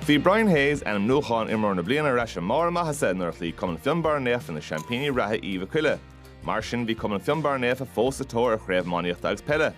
Bhí Brian Hayes, ainmniúchán Imreoir na Bliana, ar ais i mbarr a mhaitheasa nuair a chloígh Cumann Fionbarra Naofa na seaimpíní reatha Uí Mhic Coille. Mar sin, bhí Cumann Fionbarra Naofa fós sa tóir ar Chraobh Iománaíochta agus Peile.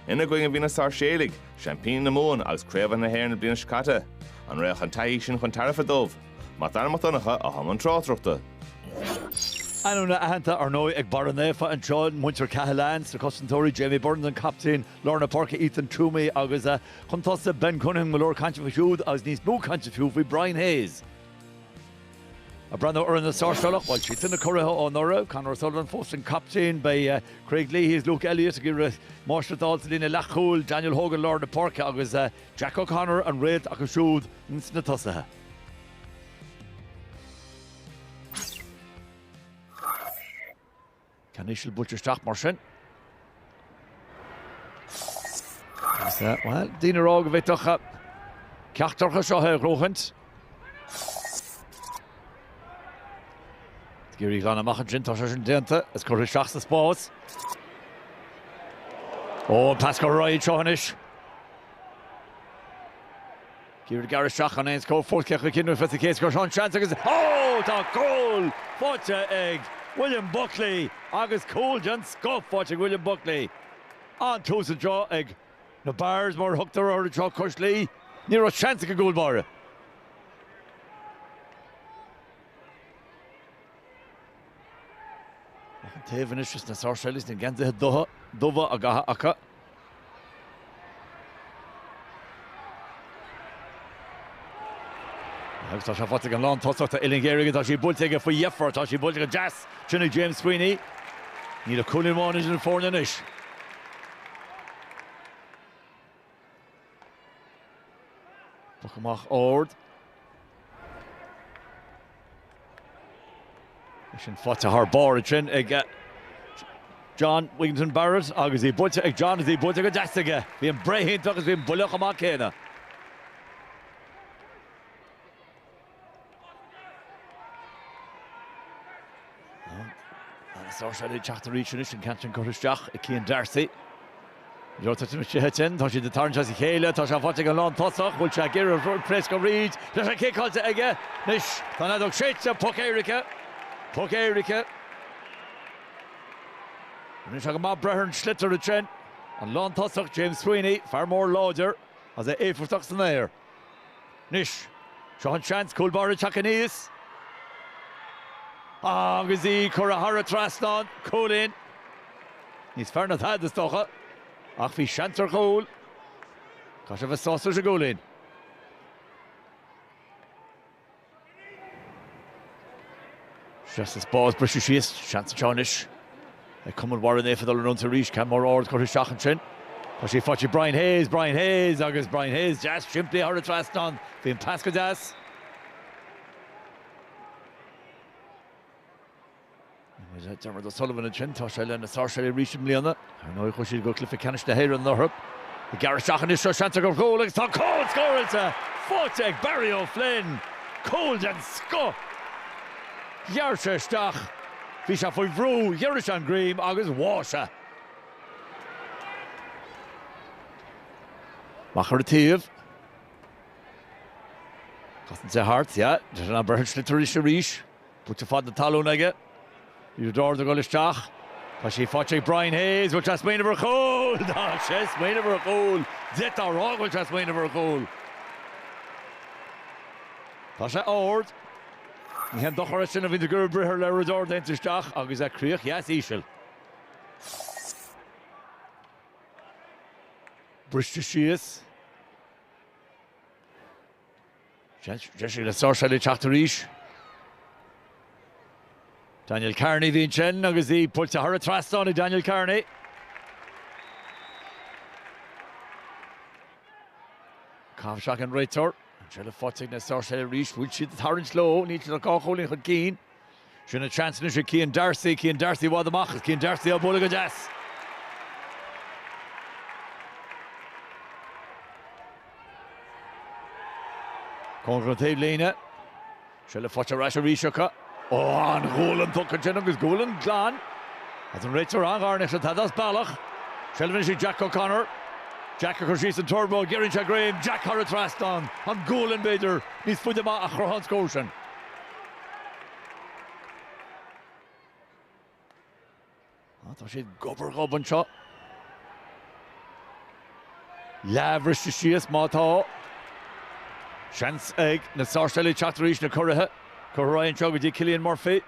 Ina gcoinne bhí na Sáirséalaigh, seaimpíní na Mumhan agus curaidh na hÉireann na bliana seo caite. An raibh an taithí sin chun tairbhe dóibh? Mac Dara Mac Donncha, a bhí i mbun tráchtaireachta. Ainmneacha aitheanta, ar ndóigh, ag Barra Naofa, ansin, muintir Cahalane, sna cosantóirí, Jamie Burns, an captaen, lár na páirce Ethan Twomey agus chun tosaigh Ben Cunningham, go leor cainte faoi siúd agus níos mó cainte fiú faoi Brian Hayes. Ag breathnú ar na Sáirséalaigh, bhuel, siadsan na curaithe anuraidh, Conor O'Sullivan fós an captaen, beidh Craig Leahy agus Luke Elliott ag iarraidh máistreacht a fháil sa líne leathchúil, Daniel Hogan lár na páirce agus Jack O'Connor an réalta acu siúd sna tosaithe. Ceann íseal buailte isteach mar sin. Bhuel, daoine ag rá go bhféadfadh ceachtar acu seo a ghnóthachtáil. Ag iarraidh í a ghlanadh amach ansin, tá sin déanta, is curtha isteach sa spás. Ó, an pas gairid seo anois. Ag iarraidh gearradh isteach chun aon scór fóirsteach a chinneadh fé sa chéad scór seo an seans agus ó tá cúl faighte ag William Buckley agus cúl den scoth faighte ag William Buckley an tús anseo ag na Bears mar a thugtar orthu anseo cois Laoi. Ní raibh seans ag an gcúl báire. Ag an taobh anois is na Sáirséalaigh na geansaithe dubha á gcaitheamh acu. Agus tá sé faighte ag an lántosaí, tá uillinn ghéar aige, tá sí buailte aige faoi dheifir, tá sí buailte go deas ansin ag James Sweeney. Níl ach cúilín amháin idir na foirne anois. Poc amach ard. Bhí sin faighte thar barr ansin ag John Wigginton Barrett agus í buailte ag John agus í buailte go deas aige. Bhí an bhreith iontach agus bhí an buille chomh maith céanna. Sáirséalaigh ag teacht arís anois an ceann sin curtha isteach ag Cian D'Arcy. Joe tá sin ag titim, tá siad ag tarraingt as a chéile, tá sé faighte ag an lántosaí, bhfuil sé ag iarraidh pléascadh tríd, tá sé ciceáilte aige, anois tá an fheadóg séidte, poc éirice, poc éirice. Anois go maith breith ar an sliotar ansin, an lántosaí, James Sweeney, fear mór láidir, is é éifeachtach san aer. Anois, seo an seans, cumann Bharra ag teacht aníos agus í curtha thar an trasnán, cúilín níos fearr ná tada, is dócha, ach bhí seans ar ghól. Caithfidh sé a bheith sásta leis an gcúilín. Deas an pas, briste síos. Seans anseo anois ag cumann Bharra Naofa dul in front arís. Ceann mór ard curtha isteach ansin. Tá sé faighte ag Brian Hayes, Brian Hayes agus Brian Hayes deas simplí thar an trasnán. Bhí an pas go deas. Dermot O'Sullivan ansin, tá sé leis na Sáirséalaigh arís i mbliana. Ar ndóigh chuaigh siad go Cluiche Ceannais na hÉireann anuraidh. Ag gearradh isteach anois seo seans ar ghól agus tá cúl scóráilte, faighte ag Barry O'Flynn. Cúl den scoth! Ghearr sé isteach, bhí sé faoi bhrú, ghiorraigh sé an greim agus bháigh sé. Mac ar an taobh. Casann sé thart, yeah, Dejan Abrahovsky tar éis arís. Bata ar fad na talún aige. Liathróid ard ag dul isteach. Tá sí faighte ag Brian Hayes. Bhfuil sé ag smaoineamh ar chúl! Tá sé ag smaoineamh ar chúl! D'fhéadfá a rá go raibh sé ag smaoineamh ar chúl. Tá sé ard. Ní haon dochar é sin a bhí an-deacair. B'fhéidir liathróid ard den tsaghas sin isteach agus é críoch dheas íseal. Briste síos. Deis eile ag Sáirséalaigh teacht arís. Daniel Kearney a bhí ansin agus í buailte thar an trasnán ag Daniel Kearney. Caite isteach ag an réiteoir. An seilbh faighte ag na Sáirséalaigh arís, bhfuil siad ag tarraingt leo, níl siad ach dhá chúilín chun cinn. Sin an seans anois ag Cian D'Arcy, Cian D'Arcy i bhfad amach is Cian D'Arcy á bualadh go deas. Cóngarach don taobhlíne. Seilbh faighte ar ais arís acu. Ó, an ghualainn tugtha ansin agus gualainn glan a dúirt an réiteoir an-ghar, ní raibh tada as bealach. Seilbh anois ag Jack O'Connor. Jack ag cur síos an turbo, giorraíonn sé greim, Jack thar an trasnán, an cúilín b'fhéidir, níos faide amach a chruthaigh an scór sin. Tá siad gob ar ghob anseo. Leath bhriste síos má tá. Seans ag na Sáirséalaigh teacht arís, na Curraithe curtha ar aghaidh anseo go dtí Cillian Murphy.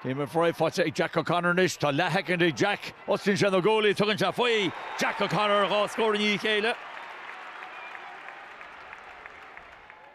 Céim ar aghaidh, faighte ag Jack O'Connor anois. Tá leathsheicint ag Jack. Osclaíonn sé na guaillí, tugann sé faoi. Jack O'Connor dhá scór i ndiaidh a chéile.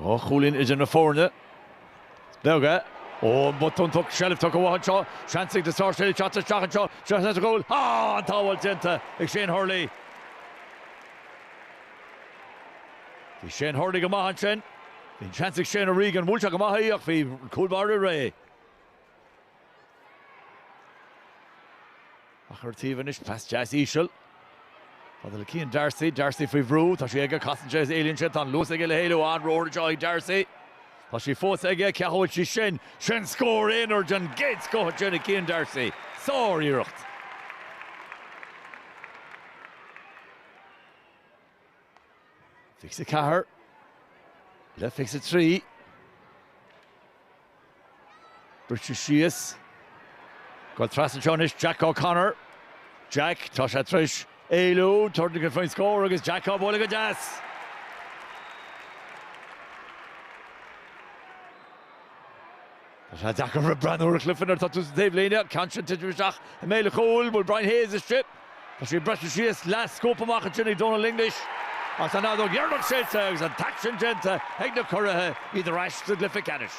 Dhá chúilín idir na foirne. Beag. Ó, an botún déanta, seilbh tugtha uathu anseo. Seans ag na Sáirséalaigh teacht isteach anseo. Seo seans ar chúl. Á, an tsábháil déanta ag Shane Hurley. Bhí Shane Hurley go maith ansin. Bhí an seans ag Shane O'Regan, bhuail sé go maith í ach bhí an cúl báire réidh. Á chur ar thaobh anois, pas deas íseal. Fada le Cian Darcy, Darcy faoi bhrú, tá sí aige, casann sé is éalaíonn sé, tá an luas aige le héalú, an-ruathar é seo ag Darcy. Tá sí fós aige, cá bhfuil sí sin, sin scór aonair den gcéad scoth ansin ag Cian Darcy. Sár-iarracht. Fiche ceathair le fiche trí. Briseann sí síos. Ag dul trasna anseo anois Jack O'Connor. Jack, tá sé tar éis éalú, tabhairt faoin scór agus Jack á bualadh go deas. Tá sé deacair a rá breith ar an gcluiche nuair atá tú sa taobhlíne, an ceann sin ag titim isteach i mbéal an chúil, bhfuil Brian Hayes istigh, tá sé ag briseadh síos, le scuabadh amach ansin ag Dónal English ach tá an fheadóg dheireanach séidte agus an t-aicsean déanta ag na curaithe, iad ar ais sa gcluiche ceannais.